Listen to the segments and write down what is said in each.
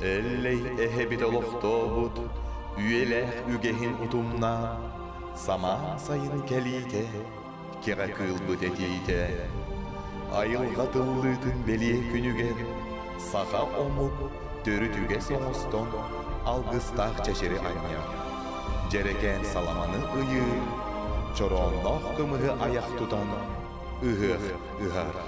Эллэй эһэбит олохтообут үйэлээх үгэһин утумнаан самаан сайын кэлиитэ кэҕэ кыылбыт этиитэ айылҕа тыллыытын бэлиэ күнүгэр саха омук төрүт үгэс оҥостон алгыстаах чэчири анньар дьэрэкээн саламаны ыйыы чороонноох кымыһы айах тутан ыһыах ыһаара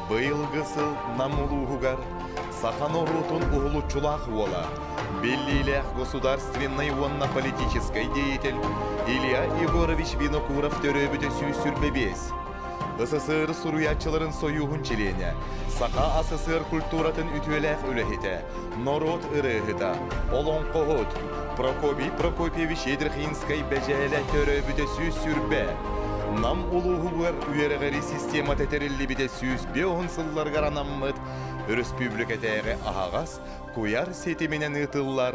Быйылгы сыл Нам улууһугар саха норуотун уһулуччулаах уола, биллиилээх государственнай уонна политическай деятель Илья Егорович Винокуров төрөөбүтэ сүүс сүр бэбиэс СССР суруйааччыларын сойууһун чилиэнэ, Саха СССР культуратын үтүөлээх үлэһитэ, норуот ырыаһыта, олоҥхоһут Прокопий Прокопьевич Едрихинскэй бэдьээлэ төрөөбүтэ сүүс сүүрбэ, Нам улууһугар үөрэҕири системата тэриллибитэ сүүс биоһун сылларыгар анаммыт, өрөспүүбүлүкэтээҕи аһаҕас куйар ситиминэн ыытыллар